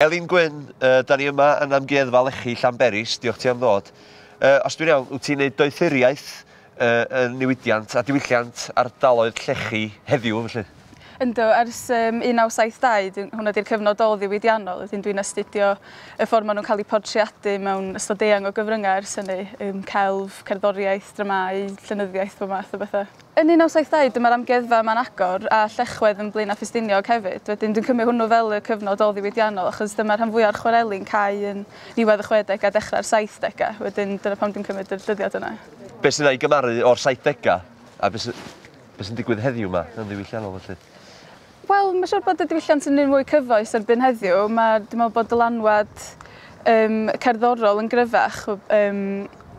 Elin Gwyn, Yy, 'da ni yma yn Amgueddfa Lechi, Llanberis, diolch ti am ddod. Yy, os dwi'n iawn, wyt ti'n neud doethuriaeth yy yn niwidiant a diwylliant ardaloedd llechi heddiw felly? Yndw, ers yym 1972 dw- hwnna 'di'r cyfnod ôl-ddiwydiannol, wedyn dwi'n astudio y ffordd maen nhw'n cael eu portreadu mewn ystod eang o gyfryngau ers hynny, yym celf, cerddoriaeth, dramâu, llenyddiaeth, bob math o bethau. Yn 1970 dyma'r amgueddfa yma'n agor a Llechwedd yn Blaenau Ffestiniog hefyd. Wedyn dwi'n cymryd hwnnw fel y cyfnod ôl-ddiwydiannol achos dyma rhan fwya'r chwareli'n cau yn niwedd y chwedegau dechrau'r saithdegau. Wedyn dyna pam dwi'n cymryd yr dyddiad yna. Be sydd a'i gymaru o'r saithdegau a be sy be sy'n digwydd heddiw 'ma yn ddiwylliannol felly? Wel, mae'n siŵr bod y diwylliant yn un mwy cyfoes erbyn heddiw. Mae, dwi'n meddwl bod dylanwad um, cerddorol yn gryfach. Um,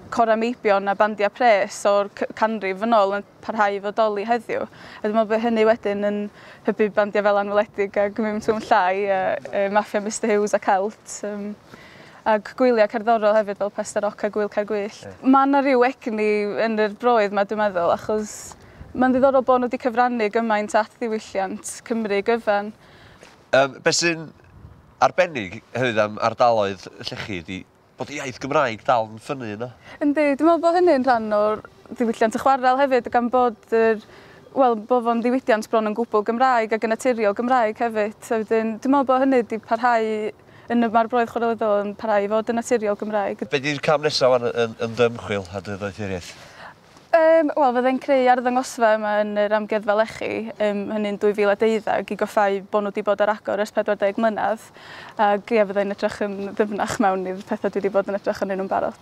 cora meibion a bandiau pres o'r canrif yn ôl yn parhau i fodoli heddiw. A dwi'n meddwl bod hynny wedyn yn hybu bandiau fel anweledig a gwmym twm llai a uh, maffia Mr Hughes a Celt. Um, ac gwyliau cerddorol hefyd fel Pester Oc a Gwyl Caergwyllt. Mae yna rhyw egni yn yr broedd mae dwi'n meddwl achos Mae'n ddiddorol bod nhw wedi cyfrannu gymaint at ddiwylliant Cymru gyfan. Yym, be sy'n arbennig hefyd am ardaloedd llechi ydi bod y iaith Gymraeg dal yn ffynnu yno. Yndi, dwi'n meddwl bod hynny'n rhan o'r ddiwylliant y chwarel hefyd gan bod yr wel, bod fo'n ddiwydiant bron yn gwbl Gymraeg ac yn naturiol Gymraeg hefyd. A wedyn dwi'n meddwl bod hynny wedi parhau yn y mae'r broydd chwarelyddol yn parhau i fod yn naturiol Gymraeg. Be di'r cam nesaf wan yn yn dy ymchwil a dy ddoethuriaeth? Yym, wel, fydde'n creu arddangosfa yma yn yr Amgueddfa Lechi, yym, hynny'n 2012, i goffáu bod nhw 'di bod ar agor ers 40 mlynedd, ac ie, fydde'n edrych yn ddyfnach mewn i'r petha' dwi 'di bod yn edrych arnyn nhw'n barod.